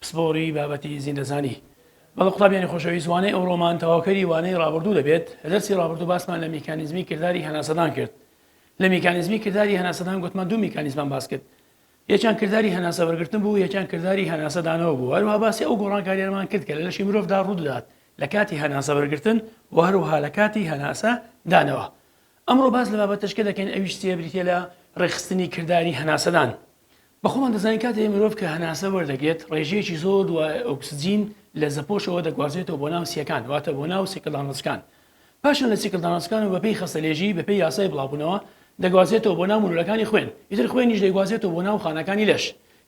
پسپۆڕی بابەتی زیندەزانی بەڵێ قوتابیانی خۆشەویست وانەی ئەوڕۆمان تەواوکەری وانەی ڕابردوو دەبێت لە دەرسی ڕابردوو باسمان لە میکانیزمی کرداری هەناسەدان کرد لە میکانیزمی کرداری هەناسەدان گوتمان دوو میکانیزمان باس کرد یەکیان کرداری هەناسە وەرگرتن بوو یەکیان کرداری هەناسەدانەوە بوو هەروها باسی ئەو گۆڕانکاریانمان کرد کە لە لەشی مرۆڤدا ڕوودات لە کاتی هەناسە وەرگرتن و هەروها لە کاتی هەناسە دانەوە ئەمڕۆ باس لە بابەتشکە دەکەین ئەویش چیە بریتە لە ڕێخستنی کرداری هەناسەدان بە خۆمان دەزانین کاتێ مرۆڤ کە هەناسە وەردەگرێت ڕێژەیەکی زۆر دوای ئۆکسجین لە زەپۆشەوە دەگوازرێتەوە بۆ ناو سییەکان واتە بۆ ناو سیکلدانەسکان پاشان لە سیکلدانەسکان و بەپێی خەستەلێژی بەپێی یاسای بڵاوبوونەوە دەگوازێتەوە بۆ ناو مولولەکانی خوێن ئیتر خوێنیش دەیگوازێتەوە بۆ ناو خانەکانی لەش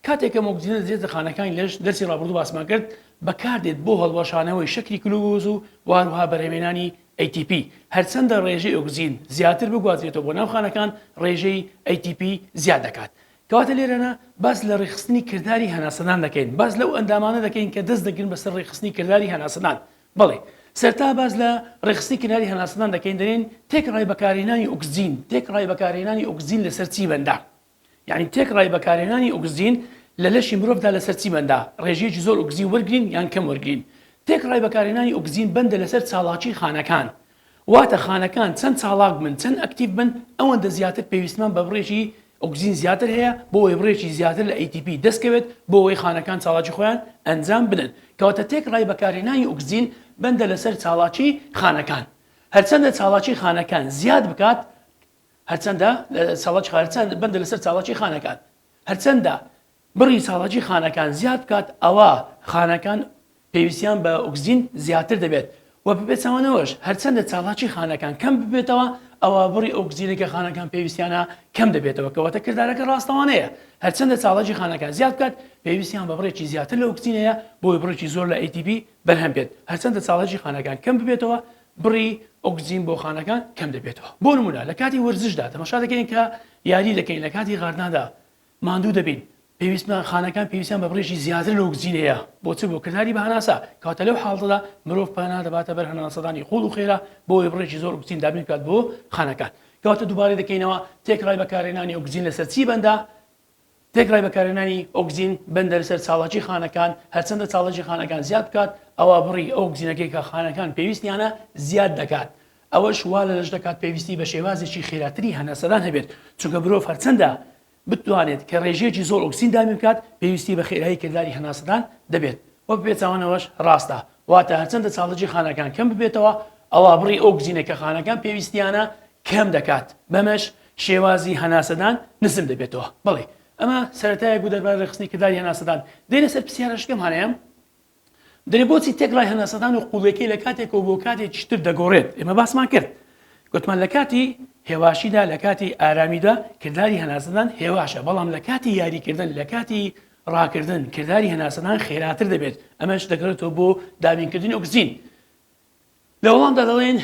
کاتێ کەم ئۆکسجینە دەچێتە خانەکانی لەش دەرسی ڕابردوو باسمان کرد بەکاردێت بۆ هەڵوەشانەوەی شەکری کلوکۆز و وهروها بەرهەمێنانی ATP، هەرچەندە ڕێژەی ئۆکسجین زیاتر بگوازرێتەوە بۆ ناو خانەکان، ڕێژەی ATP زیاد دەکات. کەواتە لێرەنا باس لە ڕێکخستنی کرداری هەناسەدان دەکەین، باس لەو ئەندامانە دەکەین کە دەست دەگرن بەسەر ڕێکخستنی کرداری هەناسەدان. بەڵێ، سەرەتا باس لە ڕێکخستنی کرداری هەناسەدان دەکەین، دەلێین تێکڕای بەکارهێنانی ئۆکسجین، تێکڕای بەکارهێنانی ئۆکسجین لەسەر چی بەندە؟ یانی تێکڕای بەکارهێنانی ئۆکسجین لە لەشی مرۆڤدا لەسەر چی بەندە، ڕێژەیەکی زۆر ئۆکسجین وەرگرین یان کەم وەرگرین. تێکڕای بەکارهێنانی ئۆکسجین بەندە لەسەر چالاکیی خانەکان. واتە خانەکان چەند چالاک بن، چەند ئەکتیڤ بن، ئەوەندە زیاتر پێویستمان بە بڕێکی ئۆکسجین زیاتر هەیە بۆوەی بڕێکی زیاتر لە ATP دەستکەوێت بۆوەی خانەکان چالاکی خۆیان ئەنجام بدەن. کەواتە تێکڕای بەکارهێنانی ئۆکسجین بەندە لەسەر چالاکیی خانەکان. هەرچەندە چالاکیی خانەکان زیاد بکات، هەرچەندە لە ساڵاچی خان هەرچەند بەندە لەسەر چاڵاچی خانەکان هەرچەندە بڕی چاڵاچی خانەکان زیاد بکات ئەوا خانەکان پێویستیان بە ئۆکسجین زیاتر دەبێت و بە پێچەوانەوەش هەرچەندە چاڵاچی خانەکان کەم ببێتەوە ئەوا بڕی ئۆکسجینە کە خانەکان پێویستیانە کەم دەبێتەوە کەواتە کردارەکە ڕاستەوانەیە هەرچەندە چاڵاچی خانەکان زیاد بکات پێویستیان بە بڕێکی زیاتر لە ئۆکسجینەیە بۆی بڕێکی زۆر لە ATP بەرهەم بێت هەرچەندە چاڵاچی خانەکان کەم ببێتەوە بڕی ئۆکسجین بۆ خانەکان کەم دەبێتەوە بۆ نموونە لە کاتی وەرزشدا تەماشا دەکەین کە یاری دەکەین لە کاتی غاردنادا ماندوو دەبین پێویستمان خانەکان پێویستیان بە بڕێکی زیاتر لە ئۆکسجین هەیە بۆ چ بۆ کرداری بە هەناسە کەواتە لەو حاڵەتەدا مرۆڤ پەنا دەباتە بەر هەناسەدانی قووڵ و خێرا بۆ ئەوەی بڕێکی زۆر ئۆکسجین دابین بکات بۆ خانەکان کەواتە دووبارە دەکەینەوە تێکڕای بەکارهێنانی ئۆکسجین لەسەر چی بەندە تێکڕای بەکارهێنانی ئۆکزین بەندەرە سەر چاڵاکی خانەکان، هەرچەندە چاڵاکی خانەکان زیاد بکات ئەوا بڕی ئەو ئۆکزینەکەی کە خانەکان پێویستیانە زیاد دەکات، ئەوەش وا لە لەش دەکات پێویستی بە شێوازێکی خێراتری هەناسەدان هەبێت، چونکە مرۆڤ هەرچەندە بتوانێت کە رێژەیەکی زۆر ئۆکسین دابین بکات پێویستی بە خێرایی کرداری هەناسەدان دەبێت و بە پێچەوانەوەش راستە، واتە هەرچەندە چاڵاکی خانەکان کەم ببێتەوە ئەوا بڕی ئەو ئۆکزینەی کە خانەکان پێویستیانە کەم دەکات، بەمەش. شێوازی هەناسەدان نزم دەبێتەوە. بەڵی ئەمە سەرەتایەک بوو دەربارەی ڕێکخستنی کرداری هەناسەدان. دێینە سەر پرسیارەش پێم هانایە دەرێ بۆچی تێکڕای هەناسەدان و قوڵێکەی لە کاتێکەوە بۆ کاتێکی تر دەگۆڕێت؟ ئێمە باسمان کرد گوتمان لە کاتی هێواشیدا لە کاتی ئارامیدا کرداری هەناسەدان هێواشە بەڵام لە کاتی یاریکردن لە کاتی ڕاکردن کرداری هەناسەدان خێراتر دەبێت ئەمەش دەگەڕێتەوە بۆ دابینکردنی ئۆکسجین لە وەڵامدا دەڵێن،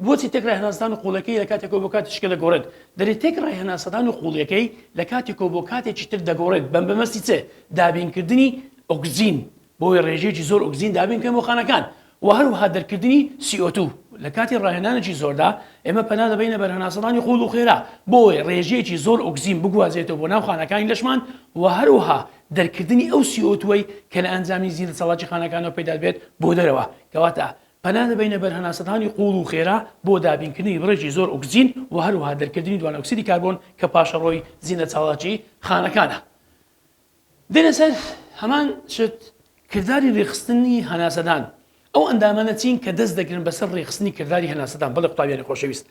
بۆچی تێکرای هەناسەدان و قوڵەکەی لە کاتێکەوە بۆ کاتیشکە دەگۆڕێت؟ دەرێت تێکڕای هەناسەدان و قوڵیەکەی لە کاتێکەوە بۆ کاتێکی تر دەگۆڕێت بە بەمەستی چ؟ دابینکردنی ئۆکسجین بۆی ڕێژەیەکی زۆر ئۆکسجین دابین بکەن بۆ خانەکان و هەروەها دەرکردنی CO2 لە کاتی ڕاهێنانێکی زۆردا ئێمە پەنا دەبینە بەر هەناسەدانی قوڵ و خێرا بۆی ڕێژەیەکی زۆر ئۆکسجین بگوازێتەوە بۆ ناو خانەکانی لەشمان و هەروەها دەرکردنی ئەو سی ئۆ تووەی کە لە ئەنجامی زیندە چالاکی خانەکانەوە پەیدا دەبێت بۆ دەرەوە، کەواتە پەنا دەبەینە بەر هەناسەدانی قووڵ و خێرا بۆ دابینکردنی بڕێکی زۆر ئۆکسجین و هەروەها دەرکردنی دوانۆکسیدی کاربۆن کە پاشەڕۆی زیندە چالاکی خانەکانە. دێنە سەر هەمان شت کرداری ڕێکخستنی هەناسەدان ئەو ئەندامانە چین کە دەست دەگرن بەسەر ڕێکخستنی کرداری هەناسەدان، بەڵێ قوتابیانی خۆشەویست،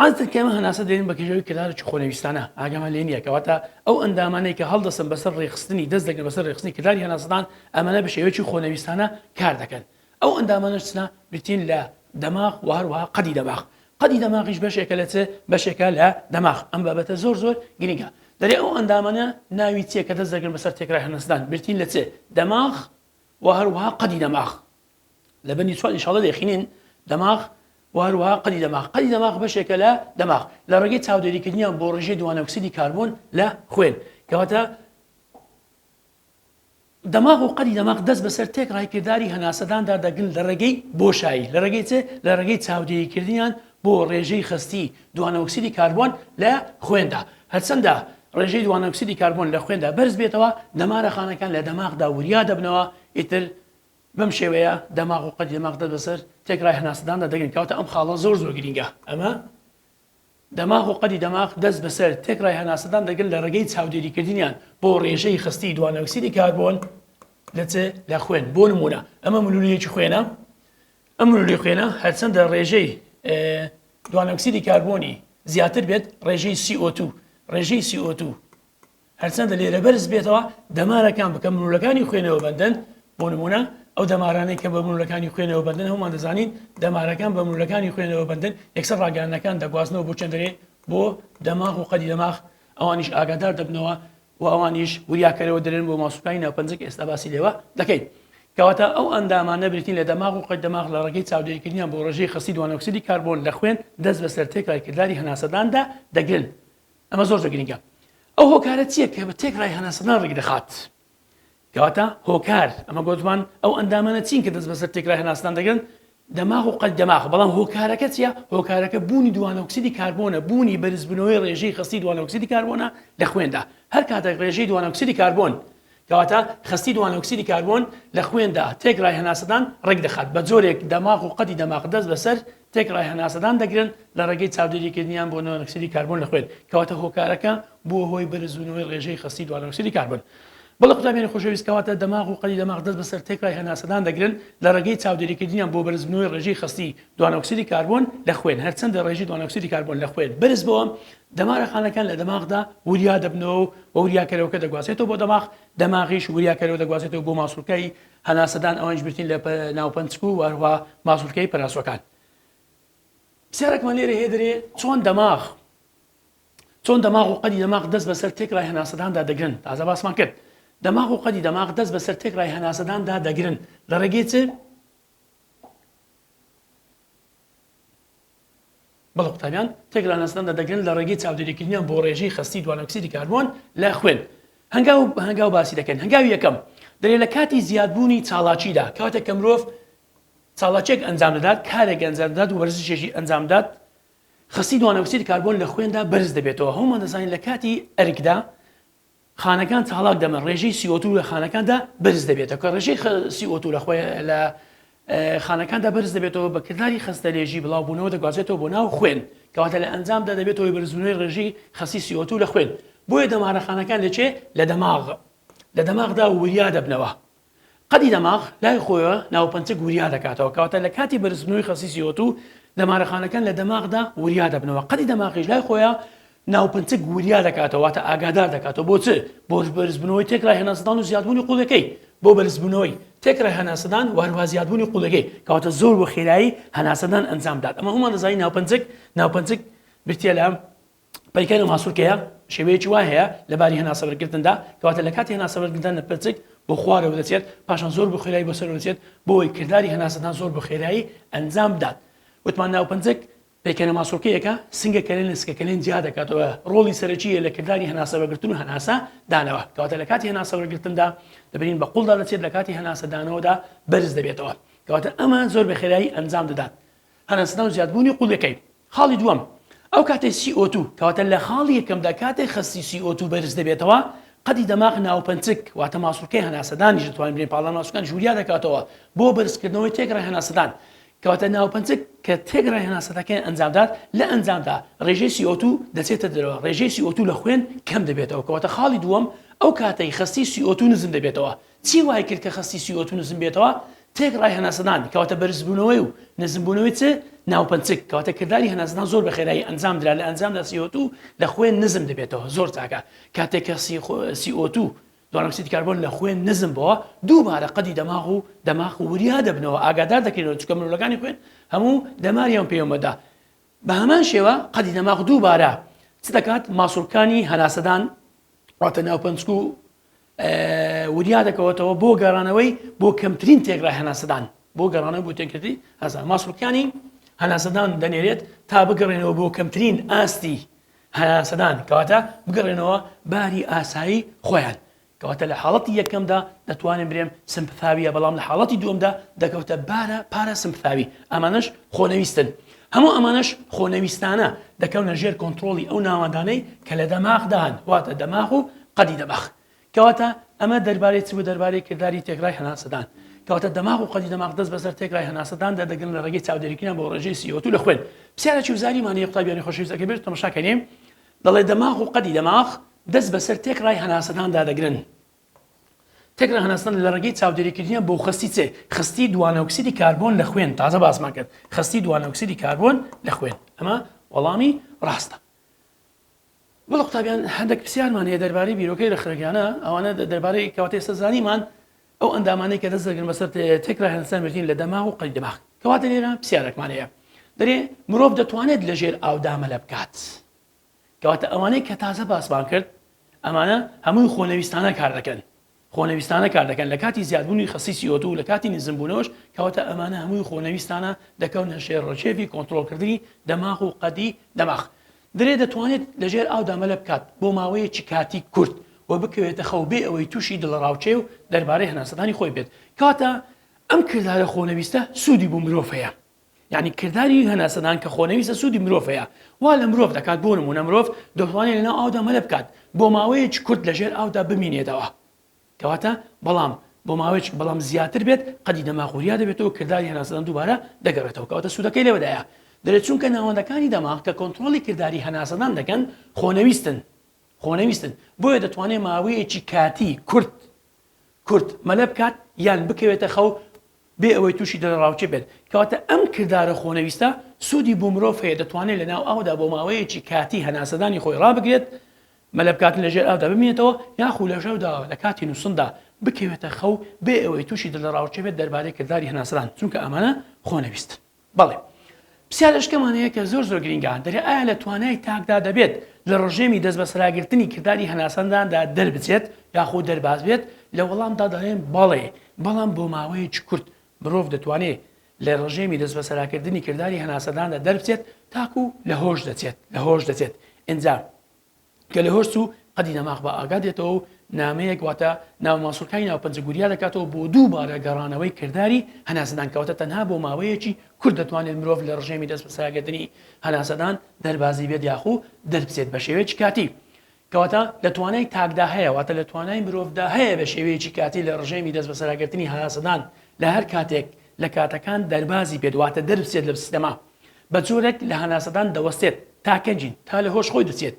عادەتەن کە ئێمە هەناسە دێنین بە کێشەوەی کردارێکی خۆنەویستانە ئاگامان لێ نییە، کەواتە ئەو ئەندامانەی کە هەڵدەستن بەسەر ڕێکخستنی دەست دەگرن بەسەر ڕێکخستنی کرداری هەناسەدان ئەمانە بە شێوەیەکی خۆنەویستانە کار دەکەن، ئەو ئەندامانەش چنە بریتین لە دەماغ و هەروەها قەدی دەماغ، قەدی دەماغیش بەشێکە لە چ؟ بەشێکە لە دەماغ، ئەم بابەتە زۆر زۆر گرینگە، دەرێ ئەو ئەندامانە ناوی چییە کە دەست دەگرن بەسەر تێکرای هەناسەدان بریتین لە چ؟ دەماغ و هەروەها قەدی دەماغ لە بەندی چوار ئینشاڵە دەخینین دەماغ و هەروەها قەدی دەماغ قەدی دەماغ بەشێکە لە دەماغ لە ڕێگەی چاودێریکردنیان بۆ ڕژێ دوانەکسیدی کاربوون لە خوێن کەواتە دەماغ و قەدی دەماغ دەست بەسەر تێک ڕایکردداری هەناسەداندا دەگن لە ڕێگەی بۆشایی لە ڕێگەی چێ لە ڕێگەی چاودێریکردنیان بۆ ڕێژەی خەستی دوانەئۆکسیدی کاربۆن لە خوێندا، هەرچەندە ڕێژەی دوانەئۆکسیدی کاربۆن لە خوێندا بەرز بێتەوە، دەمارە خانەکان لە دەماغدا وریا دەبنەوە، ئیتر بەم شێوەیە دەماغ و قەدی دەماغ دەست بەسەر تێکڕای هەناسەداندا دەگرن، کەواتە ئەم خاڵە زۆر زۆر گرینگە، ئەمە دەماغ و قەدی دەماغ دەست بەسەر تێکڕای هەناسەدان دەگرن لە ڕێگەی چاودێریکردنیان بۆ ڕێژەی خەستی دوانەئۆکسیدی کاربۆن لە چ؟ لە خوێن، بۆ نموونە ئەمە ملوولەیەکی خوێنە، ئەم مۆلیکوێلە هەرچەندە ڕێژەی دوانۆکسیدی کاربۆنی زیاتر بێت ڕێژەی CO2 ڕێژەی CO2 هەرچەندە لێرە بەرز بێتەوە دەمارەکان بکە مرولەکانی خوێنەوە بەندن بۆ نمونە ئەو دەمارانەی کە بە مرولەکانی خوێنەوە بەندن هەمان دەزانین دەمارەکان بە مرولەکانی خوێنەوە بەندن یەکسەر ڕاگەانەکان دەگوازنەوە بۆ چندێ بۆ دەماغ و قەدی دەماغ ئەوانیش ئاگادار دەبنەوە و ئەوانیش وریا کەرەوە دەرێن بۆ ماسولکانی ناوپەنجە کە ئێستا باسی لێوە دەکەین. کەواتە ئەو ئەندامانە بریتین لە دەماغ و قەی دەماغ لە ڕێگەی چاودێریکردنیان بۆ ڕێژەی خەستی دوانۆکسیدی کاربۆن لە خوێن دەست بەسەر تێکڕای کرداری هەناسەداندا دەگرن ئەمە زۆر زۆر گرنگە ئەو هۆکارە چییە کە بە تێکڕای هەناسەدان ڕیکدەخات کەواتە هۆکار، ئەمە گۆتمان ئەو ئەندامانە چین کە دەست بەسەر تێکرا هێناستان دەگرن، دەماغ و قەد دەماغ، بەڵام هۆکارەکە چیە؟ هۆکارەکە بوونی دوانەئۆکسیدی کاربۆنە، بوونی بەرزبوونەوەی ڕێژەی خەستی دوانەئۆکسیدی کاربۆنە لە خوێندا، هەر کاتێک ڕێژەی دوانەئۆکسیدی کاربۆن، کەواتە خەستی دوانەئۆکسیدی کاربۆن لە خوێندا تێکرای هەناسەدان ڕێکدەخات، بەجۆرێک دەماغ و قەدی دەماغ دەست بەسەر تێکڕای هەناسەدان دەگرن لە ڕێگەی چاودێریکردنیان بۆ نۆنکسیدی کاربۆن لە خوێن کەواتە هۆکارەکە بووە هۆی بەرزبوونەوەی ڕێژەی خەستی دوانۆکسیدی کاربۆن بەڵێ قوتابیانی خۆشەویست کەواتە دەماغ و قەلی دەماغ دەست بەسەر تێکڕای هەناسەدان دەگرن لە ڕێگەی چاودێریکردنیان بۆ بەرزبوونەوەی ڕێژەی خەستی دوانۆکسیدی کاربۆن لە خوێن هەرچەندە ڕێژی دوانۆکسیدی کاربۆن لە خوێن بەرز بەوە دەمارەخانەکان لە دەماغدا وریا دەبنەوە و وریاکەرەوەکە دەگوازێتەوە بۆ دەماغ دەماغیش وریاکەرەوە دەگوازێتەوە بۆ ماسولکای هەناسەدان ئەوانیش بریتین لە ناو پەنچک و هەروەها ماسولکەی پەناسوەکان. پرسیارەکمان لێرە هەیە دەرێ چۆن دەماغ چۆن دەماغ و قەدی دەماغ دەست بەسەر تێکڕای هەناسەداندا دەگرن تازە باسمان کرد دەماغ و قەدی دەماغ دەست بەسەر تێکڕای هەناسەداندا دەگرن لە ڕێگەی چ بەڵێ قوتابیان تێک لاناسنامدا دەگرن لە ڕێگەی چاودێریکردنیان بۆ ڕێژەی خەستی دوانۆکسیدی کاربۆن لە خوێن هەنگاو بە هەنگاو باسی دەکەین هەنگاوی یەکەم دەێ لە کاتی زیادبوونی چاڵاچیدا کاتێک کە مرۆڤ چاڵاچێک ئەنجام دەدات کارێک ئەنجامدات و وەرزشێکی ئەنجامدات خەستی دوانەکسید کاربۆن لە خوێندا بەرز دەبێتەوە هەومان دەزانین لە کاتی ئەرکدا خانەکان چاڵاک دەبن ڕێژەی سیۆتو لە خانەکاندا بەرز دەبێتەوە کە ڕێژەی سیۆتو لە خۆی لە خانەکاندا بەرز دەبێتەوە بە کردداری خستە لێژی بڵاوبوونەوە دەگوازێتەوە بۆ ناو خوێن کەواتە لە ئەنجامدا دەبێتەوەی بەرزبوونەوەی ڕێژی خەسی سیۆتو لە خوێن بۆیە دەمارەخانەکان لەچێ لە دەماغ لە دەماغدا وریا دەبنەوە قەدی دەماغ لای خۆیەوە ناوپەنچەک وریا دەکاتەوە، کەواتە لە کاتی بەرزبوونەوەی خەستی سی ئۆ توو، دەمارەخانەکان لە دەماغدا وریا دەبنەوە، قەدی دەماغیش لای خۆیە ناوپەنچەک وریا دەکاتەوە، واتە ئاگادار دەکاتەوە، بۆ چ؟ بۆ بەرزبوونەوەی تێکرای هەناسەدان و زیادبوونی قووڵەکەی، بۆ بەرزبوونەوەی تێکرای هەناسەدان و هەروەها زیادبوونی قووڵەکەی، کەواتە زۆر بە خێرایی هەناسەدان ئەنجام بدات، ئەمە هەموومان دەزانین ناوپەنچەک ناوپەنچەک بریتییە لە پەیکەر و ماسولکەیە شێوەیەکی وای هەیە لە باری هەناسەبەرگرتندا کەواتە لە کاتی هەناسەبەرگرتن لە پرچک بۆ خوارەوە دەچێت پاشان زۆر بە خێرایی بۆ سەرەوە دەچێت بۆی کرداری هەناسەدان زۆر بە خێرایی ئەنجام بدات وتمان ناوپەنجەک پەیکەرە ماسولکەیەکە سنگە کەلێن لە سکەکەلێن جیا دەکاتەوە ڕۆڵی سەرەکیە لە کرداری هەناسەبەگرتن و هەناسە دانەوە کەواتە لە کاتی هەناسەبەرگرتندا دەبین بە قوڵدا دەچێت لە کاتی هەناسەدانەوەدا بەرز دەبێتەوە کەواتە ئەمە زۆر بە خێرایی ئەنجام دەدات قەنەسنە و زیادبوونی قوڵیەکەی. خاڵی دووەم، ئەو کاتەی سی ئۆ توو، کەواتە لە خاڵی یەکەمدا کاتێک خەستی سی ئۆ توو بەرز دەبێتەوە، قەدی دەماغ ناوپەنچک واتە ماسوڵکەی هەناسەدانیش دەتوانێت بنێ پاڵنان ماسوولکانیش وریا دەکاتەوە بۆ بەرزکردنەوەی تێکڕای هەناسەدان کەواتە ناوپەنچک کە تێکڕای هەناسەدانەکەی ئەنجام دات لە ئەنجامدا ڕێژەی سی ئۆ توو دەچێتە دەرەوە ڕێژەی سی ئۆ توو لە خوێن کەم دەبێتەوە کەواتە خاڵی دووەم ئەو کاتەی خەستی سی ئۆ توو نزم دەبێتەوە چی وای کرد کە خەستی سی ئۆ تو نزم بێتەوە؟ تێکڕای هەناسەدان، کەواتە بەرزبوونەوەی و نزمبوونەوەی چ؟ ناوپەنچک، کەواتە کرداری هەناسەدان زۆر بە خێرایی ئەنجام درا، لە ئەنجامدا سی ئۆ تو لە خوێن نزم دەبێتەوە، زۆر چاکە، کاتێک کە سی ئۆ تو، دوانەم ئۆکسیدی کاربۆن، لە خوێن نزم بۆوە، دووبارە قەدی دەماغ و دەماغ وریا دەبنەوە، ئاگادار دەکرێنەوە، چونکە ملوولەکانی خوێن هەموو دەماریان پەیوەمەدە، بە هەمان شێوە قەدی دەماغ دووبارە چ دەکات؟ ماسوڵکانی هەناسەدان، واتە ناوپەنچک و وریا دەکەوەتەوە بۆ گەڕانەوەی بۆ کەمترین تێکرا هەناسەدان بۆ گەڕانەوە بۆ تێکردی هەزار ماسوڵکیانی هەناسەدان دەنێرێت تا بگەڕێنەوە بۆ کەمترین ئاستی هەناسەدان کەواتە بگەڕێنەوە باری ئاسایی خۆیان کەواتە لە حاڵەتی یەکەمدا دەتوانین برێم سمپثاویە بەڵام لە حاڵەتی دووەمدا دەکەوتە بارە پارە سمپثاوی ئەمانش خۆنەویستن هەموو ئەمانەش خۆنەویستانە دەکەونە ژێر کۆنترۆڵی ئەو ناوەندانەی کە لە دەماغدان واتە دەماغ و قەدی دەماغ کەواتە ئەمە دەربارەی چ و دەربارەی کرداری تێکرای هەناسەدان کەواتە دەماغ و قەدی دەماغ دەست بەسەر تێکرای هەناسەدان دەردەگرن لە ڕێگەی چاودێریکردنە بۆ ڕێژەی سیۆتو لە خوێن پسیارەکی وزاری مانەیە قوتابیانی خۆشەویست ئەگەر بێت تەمەشاکەین دەڵێ دەماغ و قەدی دەماغ دەست بەسەر تێکرای هەناسەداندا دەگرن تەک ڕەهەندستان لە ڕێگەی چاودێریکردنیان بۆ خەستی چ؟ خەستی دوانەئۆکسیدی کاربۆن لە خوێن، تازە باسمان کرد، خەستی دوانەئۆکسیدی کاربۆن لە خوێن، ئەمە وەڵامی ڕاستە. بەڵێ قوتابیان هەندێک پرسیارمان هەیە دەربارەی بیرۆکەی ڕێکخەرەکانە، ئەوانە دەربارەی کەواتە ئێستا زانیمان ئەو ئەندامانەی کە دەست دەگرن بەسەر تەک ڕەهەندستان مێژین لە دەماغ و قەلی دەماغ، کەواتە لێرە پرسیارێکمان هەیە دەرێ مرۆڤ دەتوانێت لەژێر ئاو دامەلە بکات؟ کەواتە ئەوانەی کە تازە باسمان کرد ئەمانە هەمووی خۆنەویستانە کار دەکەن خۆنەویستانە کار دەکەن لە کاتی زیادبوونی خەستی سیۆتو و لە کاتی نزمبوونەوەش کەواتە ئەمانە هەمووی خۆنەویستانە دەکەونە ژێر ڕکێفی کۆنترۆڵکردنی دەماغ و قەدی دەماغ درێ دەتوانێت لەژێر ئاودا مەلە بکات بۆ ماوەیەکی کاتی کورت و بکەوێتە خەو بێ ئەوەی تووشی دڵەڕاوکێ و دەربارەی هەناسەدانی خۆی بێت کەواتە ئەم کردارە خۆنەویستە سوودی بۆ مرۆڤ هەیە یانی کرداری هەناسەدان کە خۆنەویستە سوودی مرۆڤ هەیە وا لە مرۆڤ دەکات بۆ نمونە مرۆڤ دەتوانێت لەناو ئاودا مەلە بکات بۆ ماوەیەکی کورت لەژێر ئاودا بمینێتەوە کەواتە بەڵام بۆ ماوەیەکی بەڵام زیاتر بێت قەدی دەماغ وریا دەبێتەوە کرداری هەناسەدان دووبارە دەگەڕێتەوە کەواتە سوودەکەی لەوەدایە دەرێت چونکە ناوەندەکانی دەماغ کە کۆنتترۆلی کردداری هەناسەدان دەکەن خۆنەویستن خۆنەویستن بۆیە دەتوانێت ماوەیەکی کاتی کورت کورد مەلە بکات یان بکەوێتە خەو بێ ئەوەی تووشی دڵەڕاوکێ بێت، کەواتە ئەم کردارە خۆنەویستە سوودی بۆ مرۆڤ هەیە دەتوانێت لەناو ئاودا بۆ ماوەیەکی کاتی هەناسەدانی خۆی ڕابگرێت، مەلە بکات لەژێر ئاودا بمینێتەوە یاخو لەژەودا لەکاتی نووستندا بکەوێتە خەو بێ ئەوەی تووشی دڵەڕاوکێ بێت دەربارەی کرداری هەناسەدان، چونکە ئەمانە خۆنەویستن. بەڵێ. پرسیارێشکەمان هەیە کە زۆر زۆر گرینگە، دەرێ ئایا لە توانای تاکدا دەبێت لە ڕژێمی دەستبەسەراگرتنی کرداری هەناسەنداندا دەربچێت یاخۆ دەرباز بێت؟ لە وەڵامدا دەڵێم بەڵێ، بەڵام بۆ ماوەیەکی کورت. مرۆڤ دەتوانێ لە ڕژێمی دەستبەسەراکردنی کرداری هەناسەداندا دەربچێت تاکوو لە هۆش دەچێت، لە هۆش دەچێت ئینجا. کە لە هۆرس و قەدی دەماغ بە ئاگا دێتەوە و نامەیەک واتە ناو ماسولکای ناو پەنجە گوریا دەکاتەوە بۆ دووبارە گەڕانەوەی کرداری هەناسەدان کەواتە تەنها بۆ ماوەیەکی کورت دەتوانێت مرۆڤ لە ڕژێمی دەست بەساگرتنی هەناسەدان دەربازی بێت یاخو دەربچێت بە شێوەیەکی کاتی کەواتە لە توانای تاکدا هەیە واتە لە توانای مرۆڤدا هەیە بە شێوەیەکی کاتی لە ڕژێمی دەست بەسەراگرتنی هەناسەدان لە هەر کاتێک لە کاتەکان دەربازی بێت واتە دەربچێت لە سیستەما بە جۆرێک لە هەناسەدان دەوەستێت تا کەنجین تا لە هۆش خۆی دەچێت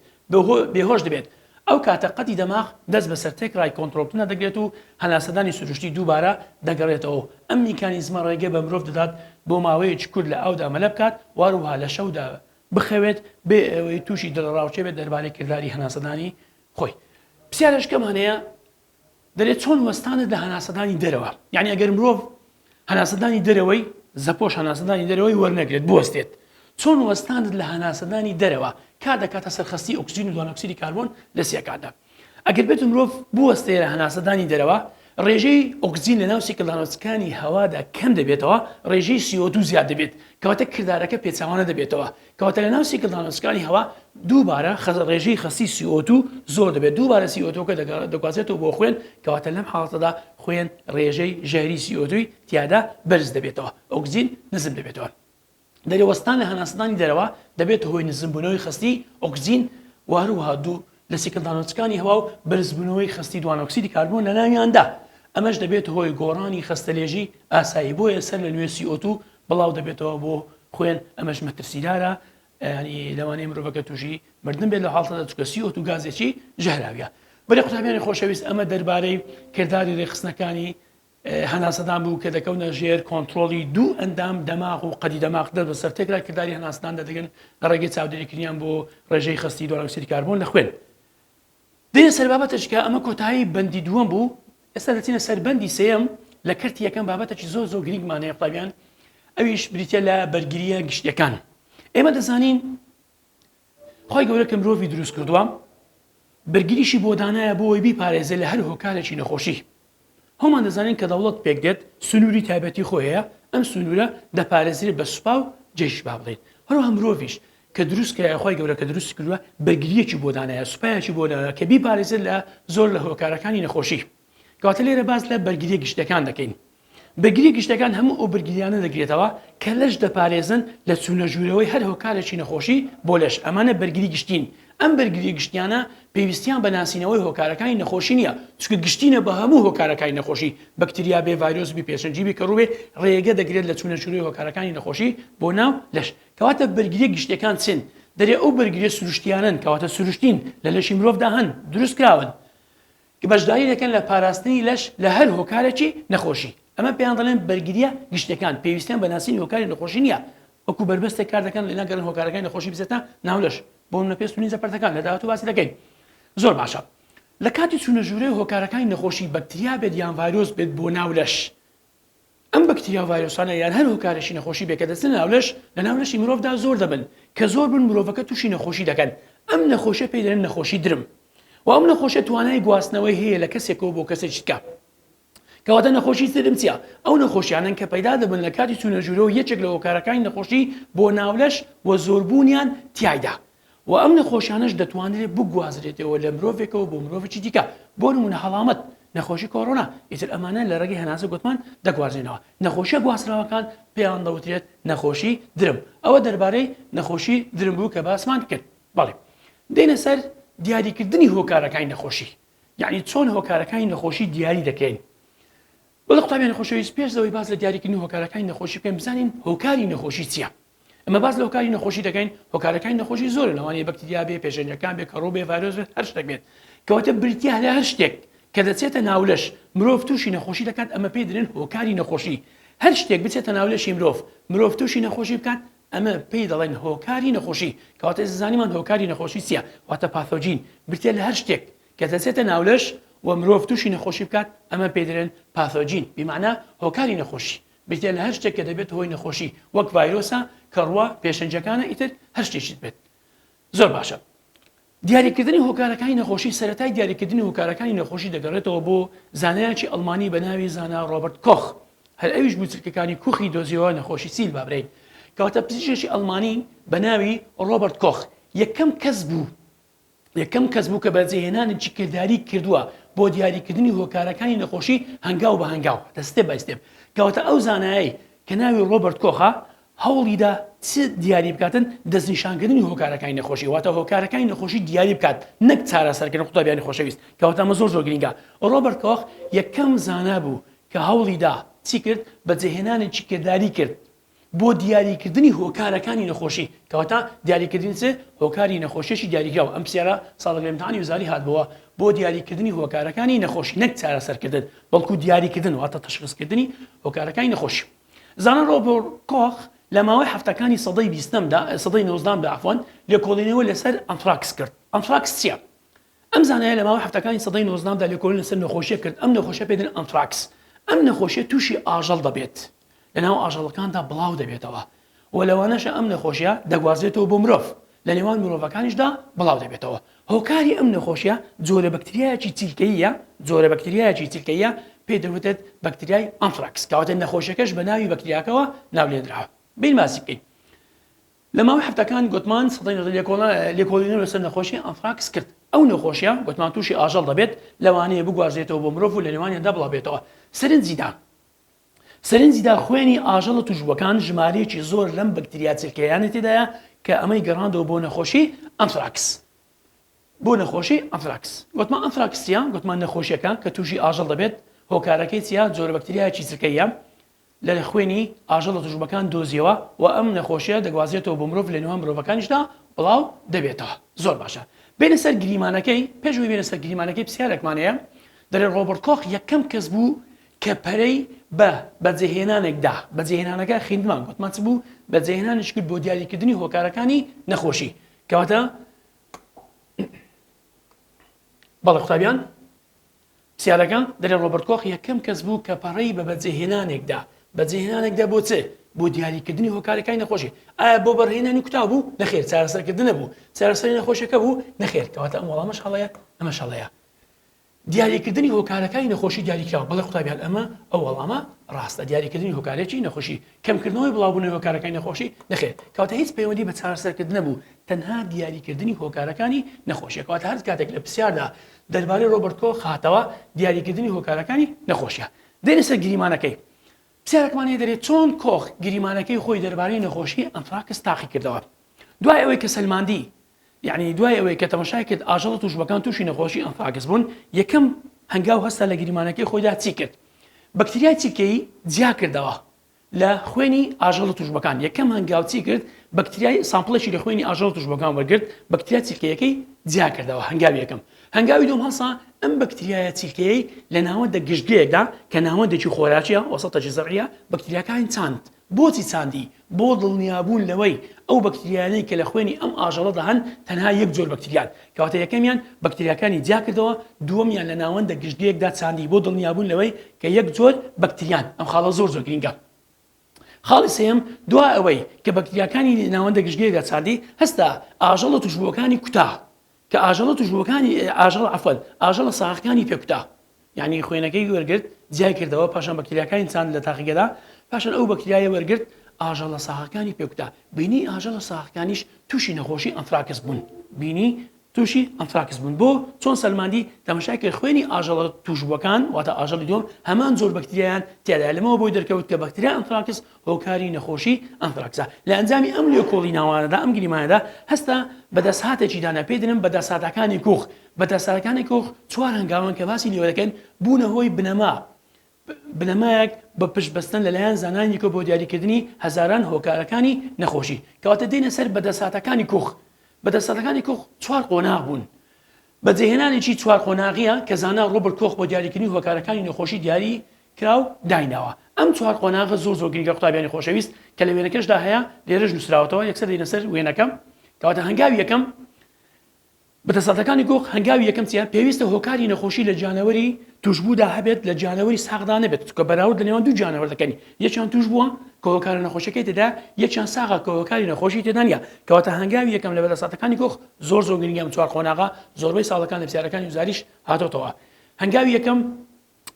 بێهۆش دەبێت، ئەو کاتە قەدی دەماغ دەست بەسەر تێکڕای کۆنترۆڵکردنا دەگرێت و هەناسەدانی سروشتی دووبارە دەگەڕێتەوە و ئەم میکانیزمە ڕێگە بە مرۆڤ دەدات بۆ ماوەیەکی کورت لە ئاودا مەلە بکات وهەروەها لە شەودا بخەوێت بێ ئەوەی تووشی دڵەڕاوکێ بێت دەربارەی کرداری هەناسەدانی خۆی. پرسیارێکم هەنەیە دەرێ چۆن وەستانت لە هەناسەدانی دەرەوە یعنی ئەگەر مرۆڤ هەناسەدانی دەرەوەی زەپۆش هەناسەدانی دەرەوەی وەرنەگرێت بوەستێت چۆن وەستانت لە هەناسەدانی دەرەوە کا دەکاتە سەرخستی ئۆکسجین و دوانۆکسری کاربۆن لە سیەکاندا ئەگەر بێت مرۆڤ بوەستێ لە هەناسەدانی دەرەوە ڕێژەی ئۆکسجین لە ناو سیکلدانۆسکانی هەوادا کەم دەبێتەوە ڕێژەی سیۆدو زیاد دەبێت کەواتە کردارەکە پێچوانە دەبێتەوە کەواتە لەناو سیکلدا ڕێسکانی هەوا دووبارە ڕێژەی خەستی سیۆتو زۆر دەبێت دووبارە سیۆتۆکە دەگوازێتەوە بۆ خوێن کەواتە لەم حاڵەتەدا خوێن ڕێژەی ژەهری سیۆتوی تیادا بەرز دەبێتەوە ئۆکزین نزم دەبێتەوە دەرەوەستان لە هەناسەدانی دەرەوە دەبێت هۆی نزمبوونەوەی خستی ئۆکزین و هەروها دوو لە سیکلدانۆچکانی هەوا و بەرزبوونەوەی خستی دوانۆکسیدی کاربوون لە ناویاندا ئەمەش دەبێت هۆی گۆڕانی خستەلێژی ئاسایی بۆیە سەر لە نوێسی ئۆتو بڵاو دەبێتەوە بۆ خوێن ئەمەش مەترسیدارە یانی لەوانەیە مرۆڤەکە تووشی مردن بێت لە حاڵتەدا چکە سی ئۆتو گازێکی ژەهراویە بەێ قوتابیانی خۆشەویست ئەمە دەربارەی کردداری ڕێخستنەکانی هەناسەدان بوو کە دەکەونە ژێر کۆنتترۆلی دوو ئەندام دەماغ و قەدی دەماغ دەر بە سەر تێکرا کردداری هەناسداندا دەگەن لە ڕێگەی چاودێریکردیان بۆ ڕێژەی خستی دۆرەکسری کاربوون لە خوێن دێینە سەر بابەتەچ کە ئەمە کۆتایی بەندی دووەم بوو ئێستا دەچینە سەر بەندی سێم لە کەرتی یەکەم بابەتەکی زۆر زۆر گرنگمانەیە قوتابیان ئەویش بریتە لە بەرگریە گشتیەکان ئێمە دەزانین خی گەورە کە مرۆڤی دروست کردووە بەرگریشی بۆ دانایە بۆی بیپارێزێ لە هەر هۆکارێکی نەخۆشی هەومان دەزانین کە دەوڵەت پێک دێت سنووری تایبەتی خۆی هەیە، ئەم سنوورە دەپارێزرێت بە سوپا و جەیش با بڵێین، هەروەها مرۆڤیش کە دروست کرایە خوای گەورە کە دروستی کردووە بەرگرییەکی بۆ دانایە، سوپایەکی بۆ دانایە کە بیپارێزێت لە زۆر لە هۆکارەکانی نەخۆشی. کەواتە لێرە باس لە بەرگرییە گشتییەکان دەکەین. بەرگرییە گشتییەکان هەموو ئەو بەرگرییانە دەگرێتەوە کە لەش دەپارێزن لە چوونەژوورەوەی هەر هۆکارێکی نەخۆشی بۆ لەش، ئەمانە بەرگری گشتین ئەم بەرگرییە گشتییانە پێویستییان بە ناسینەوەی هۆکارەکانی نەخۆشی نییە، چونکە گشتینە بە هەموو هۆکارەکانی نەخۆشی، بەکتریا بێ، ڤایرۆس بی، پێشەنگی بی، کەڕوو بێ، ڕێگە دەگرێت لە چوونەچوونەوەی هۆکارەکانی نەخۆشی بۆ ناو لەش. کەواتە بەرگرییە گشتییەکان چین؟ دەرێ ئەو بەرگرییە سروشتییانەن، کەواتە سروشتین، لە لەشی مرۆڤدا هەن، دروستکراون. کە بەشداری دەکەن لە پاراستنی لەش لە هەر هۆکارێکی نەخۆشی، ئەمە پێیان دەڵێن بەرگرییە گشتیەکان، پێویستیان بە ناسینی هۆکاری نەخۆشی نییە، وەکو بەربەستێک کار دەکەن لە نەگەڕن هۆکارەکانی نەخۆشی بچێتە ناو لەش، بۆ نمونە پێست و لینجە پەرتەکان، لە داهاتوو باسی دەکەین. زۆر باشە لە کاتی چوونە ژوورێ هۆکارەکانی نەخۆشی بەکتریا بێت یان ڤایرۆس بێت بۆ ناو لەش، ئەم بەکتریا و ڤایرۆسانە یان هەر هۆکارێکی نەخۆشی بێ کە دەچنە ناو لەش، لە ناو لەشی مرۆڤدا زۆر دەبن، کە زۆر بن مرۆڤەکە تووشی نەخۆشی دەکەن، ئەم نەخۆشیە پێی دەنێن نەخۆشی درم و ئەم نەخۆشیە توانای گواستنەوەی هەیە لە کەسێکەوە بۆ کەسێکی دیکە. کەواتە نەخۆشی درم چیە؟ ئەو نەخۆشیانەن کە پەیدا دەبن لە کاتی چوونە ژوورەوە یەکێک لە هۆکارەکانی نەخۆشی بۆ ناو لەش و زۆربوونیان تیایدا وە ئەم نەخۆشیانەش دەتوانرێت بگوازرێتەوە لە مرۆڤێکەوە بۆ مرۆڤێکی دیکە بۆ نمونە هەڵامەت، نەخۆشی کۆرۆنا، ئیتر ئەمانە لە ڕێگەی هەناسە گۆتمان دەگوازرێنەوە، نەخۆشیە گواستراوەکان پێیان دەوترێت نەخۆشی درم، ئەوە دەربارەی نەخۆشی درم بوو کە باسمان کرد بەڵێ دێنە سەر دیاریکردنی هۆکارەکانی نەخۆشی یانی چۆن هۆکارەکانی نەخۆشی دیاری دەکەین وەللە قوتابیانی خۆشەویست پێش لەوەی باس لە دیاریکردنی هۆکارەکانی نەخۆشی بکەین بزانین هۆکاری نەخۆشی چیە؟ ئێمە باس لە هۆکاری نەخۆشی دەکەین هۆکارەکانی نەخۆشی زۆرن لەوانەیە بەکتریا بێ پێشێنەکان بێ کەڕوو بێ ڤایرۆس بێت هەر شتێک بێت کەواتە بریتیە لە هەر شتێک کە دەچێتە ناولەش مرۆڤ تووشی نەخۆشی دەکات ئەمە پێی دەێن هۆکاری نەخۆشی هەر شتێک بچێتە ناولەشی مرۆڤ مرۆڤ تووشی نەخۆشی بکات ئەمە پێی دەڵێن هۆکاری نەخۆشی کەواتە زانیمان هۆکاری نەخۆشی چیە واتە پاثۆجین برتێ لە هەر شتێک کە دەچێتە ناولەش و مرۆڤ تووشی نەخۆشی بکات، ئەمە پێی دەلێن پاثۆجین، بیمانا هۆکاری نەخۆشی، بریتیە لە هەر شتێک کە دەبێتە هۆی نەخۆشی، وەک ڤایرۆسە، کەڕووە، پێشەنگەکانە، ئیتر هەر شتێکیت بێت. زۆر باشە. دیاریکردنی هۆکارەکانی نەخۆشی، سەرەتای دیاریکردنی هۆکارەکانی نەخۆشی دەگەڕێتەوە بۆ زانایەکی ئەڵمانی بە ناوی زانا ڕۆبەرت کۆخ، هەر ئەویش بوو چرکەکانی کوخی دۆزیەوە نەخۆشی سیل با برێین، کەواتە پزیشکێکی ئەڵمانی بە ناوی ڕۆبەرت کۆخ یەکەم کەس بوو، یەکەم کەس بوو کە بەجێهێنانێکی کرداریی کردووە بۆ دیاریکردنی هۆکارەکانی نەخۆشی هەنگاو بە هەنگاو، The Step by Step، کەواتە ئەو زانایەی کە ناوی ڕۆبەرت کۆخە، هەوڵیدا چ دیاری بکاتن، دەستنیشانکردنی هۆکارەکانی نەخۆشی، واتە هۆکارەکانی نەخۆشی دیاری بکات، نەک چارەسەرکردن قوتابیانی خۆشەویست، کەواتە ئەمە زۆر زۆر گرینگە. ڕۆبەرت کۆخ یەکەم زانا بوو کە هەوڵیدا چی کرد؟ بەجێهێنانێکی کرداریی کرد بۆ دیاریکردنی هۆکارەکانی نەخۆشی کەواتە دیاریکردنی چ هۆکاری نەخۆشیی دیاریکراوە ئەم پسیارە ساڵێک لە ئیمتحانی وزاری هاتبووە بۆ دیاریکردنی هۆکارەکانی نەخۆشی نەک چارەسەرکردن بەڵکو دیاریکردن واتە تەشخیصکردنی هۆکارەکانی نەخۆشی زانای ڕۆبۆر کۆخ لە ماوەی هەفتەکانی سەدەی بیستەمدا سەدەی نۆزدەهەمدا عەفوەن لێکۆڵینەوە لەسەر ئەنتراکس کرد ئەنتراکس چییە ئەم زانایە لە ماوەی حەفتاکانی سەدەی نۆزدەهەمدا لێکۆڵین لەسەر نەخۆشیەک کرد ئەم نەخۆشیە پێ دەن ئەنتراکس ئەم نەخۆشیە توشی ئاژەڵ دەبێت لە ناو ئاژەڵەکاندا بڵاو دەبێتەوە و لەوانەشە ئەم نەخۆشیە دەگوازرێتەوە بۆ مرۆڤ لە نێوان مرۆڤەکانیشدا بڵاو دەبێتەوە هۆکاری ئەم نەخۆشیە جۆرە بەکتریایەکی چیلکەییە جۆرە بەکتریایەکی چیلکەییە پێ دەوتێت بەکتریای ئەنتراکس کەواتە نەخۆشیەکەش بە ناوی بەکتریاکەوە ناولێنراوە بین باسی بکەین لە ماوەی هەفتەکان گۆتمان سەدان لێکۆڵینەوە لەسەر نەخۆشی ئانتراکس کرد. ئەو نەخۆشییە گۆتمان تووشی ئاژەڵ دەبێت، لەوانەیە بگوازرێتەوە بۆ مرۆڤ و لە نێوانیاندا بڵاوبێتەوە. سەرنجی دا سەرنجی دا خوێنی ئاژەڵە تووشبووەکان ژمارەیەکی زۆر لەم بەکتریا چرکەییانە تێدایە کە ئەمەی گەڕاندەوە بۆ نەخۆشی ئانتراکس. بۆ نەخۆشی ئانتراکس گۆتمان ئانتراکس چییە؟ گۆتمان نەخۆشییەکە کە تووشی ئاژەڵ دەبێت هۆکارەکەی چییە؟ جۆرە بەکتریایەکی چرکەییە لە خوێنی ئاژەڵە توشبووەکان دۆزیەوە و ئەم نەخۆشیە دەگوازرێتەوە بۆ مرۆڤ لە نێوان مرۆڤەکانیشدا بڵاو دەبێتەوە زۆر باشە بێنە سەر گریمانەکەی پێش ئەوەی بێنە سەر گریمانەکەی پرسیارێکمان هەیە دەرێ ڕۆبەرت کۆخ یەکەم کەس بوو کە پەرەی بە بەجێهێنانێک دا بەجێهێنانەکە خیندمان گوتمان چ بوو بەجێهێنانیش کرد بۆ دیاریکردنی هۆکارەکانی نەخۆشی کەواتە بەڵێ قوتابیان پرسیارەکە، دەرێ ڕۆبەرت کۆخ یەکەم کەس بوو کە پەڕەی بە بەجێهێنانێک دا، بەجێهێنانێک دا بۆ چ؟ بۆ دیاریکردنی هۆکارەکانی نەخۆشی. ئایا بۆ بەڕهێنانی کوتاو بوو؟ نەخێر، چارەسەرکردنە بوو. چارەسەری نەخۆشیەکە بوو؟ نەخێر، کەواتە ئەم وەڵامەش هەڵەیە، ئەمەش هەڵەیە. دیاریکردنی هۆکارەکانی نەخۆشی دیاریکراوە، بەڵێ قوتابیان ئەمە، ئەو وەڵامە ڕاستە، دیاریکردنی هۆکارەکی نەخۆشی، کەمکردنەوەی بڵاوبوونەوەی هۆکارەکانی نەخۆشی، نەخێر، کەواتە هیچ پەیوەندی بە چارەسەرکردنە بوو، تەنها دیاریکردنی هۆکارەکانی نەخۆشیە، کەواتە هەرکاتێک لە پرسیاردا دەربارەی ڕۆبەرت کۆخ هاتەوە دیاریکردنی هۆکارەکانی نەخۆشیە دێنە سەر گریمانەکەی پرسیارەکمان لێ دەرێت چۆن کۆخ گریمانەکەی خۆی دەربارەی نەخۆشی ئەنتراکس تاقی کردەوە دوای ئەوەی کە سەلماندی یعنی دوای ئەوەی کە تەمەشای کرد ئاژەڵە توشبەکان تووشی نەخۆشی ئەنفاگس بوون یەکەم هەنگاو هەستا لە گریمانەکەی خۆیدا چی کرد بەکتریای چرکەیی جیا کردەوە لە خوێنی ئاژەڵە توشبوەکان یەکەم هەنگاو چی کرد بەکتریای سامپڵێکی لە خوێنی ئاژەڵە توشبوەکان وەرگرت بەکتریا چیلکەیەکەی جیاکردەوە هەنگاوی یەکەم هەنگاوی دوم هەڵسا ئەم بەکتریایە چیلکەیەی لە ناوەندە گشتگەیەکدا کە ناوەندێکی خۆراکیە وەسەتە جزعە بەکتریاکانی چاند بۆچی چاندی بۆ دڵنیابوون لەوەی ئەو بەکتریانەی کە لە خوێنی ئەم ئاژەڵەدا هەن تەنها یەک جۆر بەکتریان کەواتە یەکەمیان بەکتریاکانی جیاکردەوە دووەمیان لە ناوەندە گشتگەیەکدا چاندی بۆ دڵنیابوون لەوەی کە یەک جۆر بەکتریان، ئەم خاڵە زۆر زۆر گرینگە. خاڵی سێیەم، دوا ئەوەی کە بەکتریاکانی ناوەندە گشتگیرەکە چاندی، هەستا ئاژەڵە توشبووەکانی کوتا، کە ئاژەڵە توشبووەکانی ئاژەڵە عەفوەن ئاژەڵە ساغەکانی پێ کوتا. یانی خوێنەکەی وەرگرت جیای کردەوە پاشان بەکتریاکانی چاند لە تاقیگەدا پاشان ئەو بەکتریایە وەرگرت ئاژەڵە ساغەکانی پێ کوتا بینی ئاژەڵە ساغەکانیش توشی نەخۆشی ئەنفراکس بوون بینی تووشی ئەنتراکس بوون بۆ چۆن سەلماندی تەمەشای کرد خوێنی ئاژەڵە تووشبووەکان واتە ئاژەڵی دووەم هەمان جۆر بەکتریایان تیادا لەمەوە بۆی دەرکەوت کە بەکتریا ئەنتراکس هۆکاری نەخۆشی ئەنتراکسە لە ئەنجامی ئەم لێکۆڵی ناوانەدا ئەم گریمانەدا هەستا بە دەسهاتێکی دانا پێی دەنم بە دەساتەکانی کوخ بە دەساتەکانی کوخ چوار هەنگاوان کە باسی لێوە دەکەن بوونە هۆی بنەما بنەمایەک بە پشت بەستن لەلایەن زانایانیکەوە بۆ دیاریکردنی هەزاران هۆکارەکانی نەخۆشی. کەواتە دێینە سەر بەدەستهاتەکانی کوخ. بەدەستهاتەکانی کوخ چوار قۆناغ بوون. بەجێهێنانێکی چوار قۆناغییە کە زانا ڕۆبرت کۆخ بۆ دیاریکردنی هۆکارەکانی نەخۆشی دیاری کراو دایناوە. ئەم چوار قۆناغە زۆر زۆر گرنگە قوتابیانی خۆشەویست کە لە وێنەکەشدا هەیە لێرەش نووسراوەتەوە یەکسەر دێینە سەر وێنەکە. کەواتە هەنگاوی یەکەم، بەدەسەڵاتەکانی گۆڕ هەنگاوی یەکەم چیە؟ پێویستە هۆکاری نەخۆشی لە گیانەوەری توشبوودا هەبێت لە گیانەوەری ساغدا نەبێت چونکە بەراورد لە نێوان دوو گیانەوەر دەکەین یەکیان توشبووە کە هۆکارە نەخۆشیەکەی تێدا یەکیان ساغە کە هۆکاری نەخۆشی تێدا نیە کەواتە هەنگاوی یەکەم لە بەدەسەڵاتەکانی گۆخ زۆر زۆر گرنگە ئەم چوار قۆناغە زۆربەی ساڵەکان لە پرسیارەکانی وزاریش هاتۆتەوە هەنگاوی یەکەم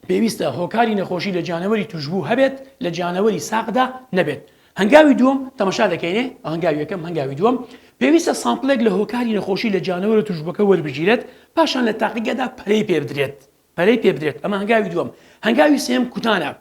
پێویستە هۆکاری نەخۆشی لە جانەوەری توشبوو هەبێت لە جانەوەری ساقدا نەبێت هەنگاوی دووەم تەمەشا دەکەینێ هەنگاوی یەکەم هەنگاوی دووەم پێویستە سامپلێک لە هۆکاری نەخۆشی لە جانەوەرە توشبووەکە وەربگیرێت پاشان لە تاقیگەدا پەرەی پێبدرێت پەرەی پێبدرێت ئەمە هەنگاوی دووەم هەنگاوی سێم کوتانە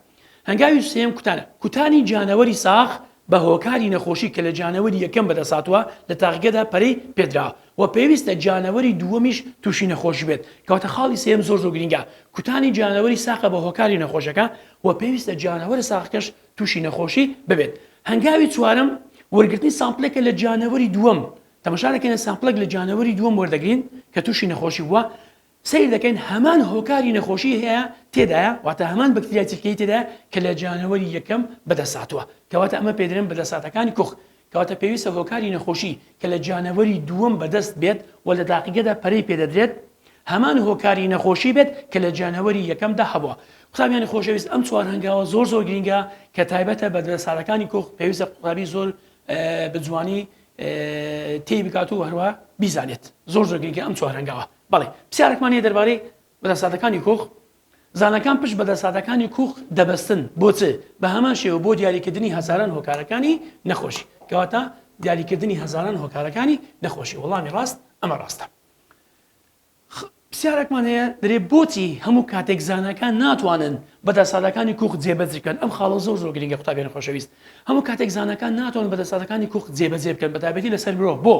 هەنگاوی سێم کوتانە کوتانی جانەوەری ساخ بە هۆکاری نەخۆشی کە لە جانەوەری یەکەم بەدەستهاتووە لە تاقیگەدا پەرەی پێدراوە و پێویستە جانەوەری دووەمیش تووشی نەخۆش بێت کەواتە خاڵی سێیەم زۆر زۆر گرینگە کوتانی جانەوەری ساقە بە هۆکاری نەخۆشەکە و پێویستە جانەوەرە ساقەکەش تووشی نەخۆشی ببێت هەنگاوی چوارەم وەرگرتنی سامپلێکە لە جانەوەری دووەم تەمەشا دەکەین سامپلێک لە جانەوەری دووەم وەردەگرین کە تووشی نەخۆشی بووە سەیر دەکەین هەمان هۆکاری نەخۆشی هەیە تێدایە واتە هەمان بەکتریای چرکەیی تێدایە کە لە جانەوەری یەکەم بەدەستهاتووە کەواتە ئەمە پێدەرێن بەدەستاتەکانی کوخ کەواتە پێویستە هۆکاری نەخۆشی کە لە جانەوەری دووەم بەدەست بێت و لە داقیگەدا پەرەی پێدەدرێت هەمان هۆکاری نەخۆشی بێت کە لە جانەوەری یەکەمدا هەبووە قوتابیانی خۆشەویست ئەم چوار هەنگاوە زۆر زۆر گرنگە کە تایبەتە بە دەستارەکانی کوخ پێویستە قوتابی زۆر بە جوانی تێی بکات و هەروە بیزانێت زۆر زۆر گرنگە ئەم چوار هەنگاوە بەڵێ، پرسیارێکمان هەیە دەربارەی بەدەساتەکانی کوخ، زاناکان پشت بە دەساتەکانی کوخ دەبەستن بۆ چ؟ بە هەمان شێوە بۆ دیاریکردنی هەزاران هۆکارەکانی نەخۆشی. کەواتە دیاریکردنی هەزاران هۆکارەکانی نەخۆشی. وەڵامی ڕاست ئەمە ڕاستە. پرسیارێکمان هەیە دەرێ بۆچی هەموو کاتێک زاناکان ناتوانن بەدەسادەکانی کوخ جێبەجێ بکەن ئەم خاڵە زۆر زۆر گرنگە قوتابیانی خۆشەویست هەموو کاتێک زانەکان ناتوان بەدەسادەکانی کوخ جێبەجێ بکەن بەتابەتی لەسەر مرۆڤ بۆ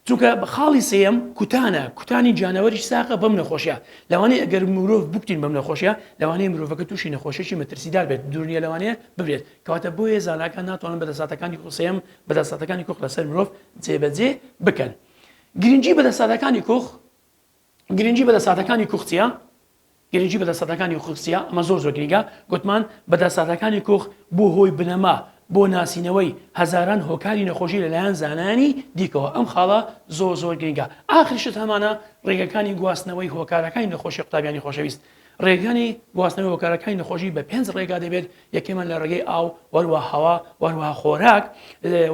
چونکە خاڵی سێیەم کوتانە، کوتانی جانەوەریش ساغە بەم نەخۆشیە، لەوانەیە ئەگەر مرۆڤ بکوتین بەم نەخۆشیە لەوانەیە مرۆڤەکە توشی نەخۆشیەکی مەترسیدار بێت دورنیە لەوانەیە بمرێت، کەواتە بۆیە زاناکان ناتوانن بەدەساتەکانی خو سێیەم بەدەساتەکانی کوخ لەسەر مرۆڤ جێبەجێ بکەن. گرنگی بەدەساتەکانی کوخ. گرنگی بەدە ساتەکانی کوخ چیە؟ گرنگی بەدە ساتەکانی خوخ چیە؟ ئەمە زۆر زۆر گرنگە گوتمان بەدە ساتەکانی کوخ بوە هۆی بنەما بۆ ناسینەوەی هەزاران هۆکاری نەخۆشی لەلایەن زانایانی دیکەوە ئەم خاڵە زۆر زۆر گرنگە ئاخر شت هەمانە ڕێگەکانی گواستنەوەی هۆکارەکانی نەخۆشی قوتابیانی خۆشەویست ڕێگانی گواستنەوەی هۆکارەکانی نەخۆشی بە پێنج ڕێگا دەبێت یەکەمیان لە ڕێگەی ئاو وەروە هەوا وەروە خۆراک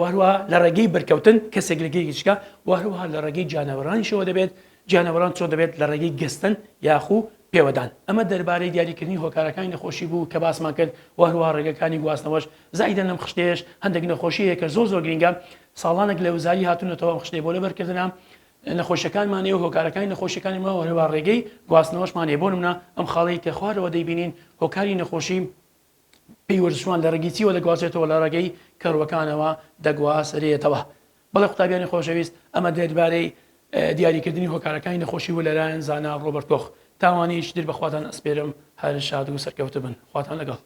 وەروە لە ڕێگەی بەرکەوتن کەسێک لە گەیەکی چکە وەروها لە ڕێگەی جانەوەرانیشەوە دەبێت جانەوەران چۆن دەبێت لە ڕێگەی گەستن یاخو پێوەدان ئەمە دەربارەی دیاریکردنی هۆکارەکانی نەخۆشی بوو کە باسمان کرد و هەروە ڕێگەکانی گواستنەوەش زایدە لەم خشتێش هەندێک نەخۆشی هەیە کە زۆر زۆر گرنگە ساڵانێک لە وزاری هاتوونەتەوە خشتێ بۆ لەبەرکردنە نەخۆشیەکانمان هەیە و هۆکارەکانی نەخۆشیەکانی ماوە هەروەها ڕێگەی گواستنەوەشمان هەیە بۆ نمونە ئەم خاڵەی کە خوارەوە دەیبینین هۆکاری نەخۆشی پێی وەرزشوان لە ڕێگەی چیوە دەگوازێتەوە لە ڕێگەی کەڕوەکانەوە دەگوازرێتەوە بەڵێ قوتابیانی خۆشەویست ئەمە دەربارەی دیاریکردنی هۆکارەکانی نەخۆشی و لەلایەن زانا ڕۆبەرت کۆخ تاوانیش در بەخواتان ئەسپێرم هەر شاد و سەرکەوتوبن خواتان لەگەڵ.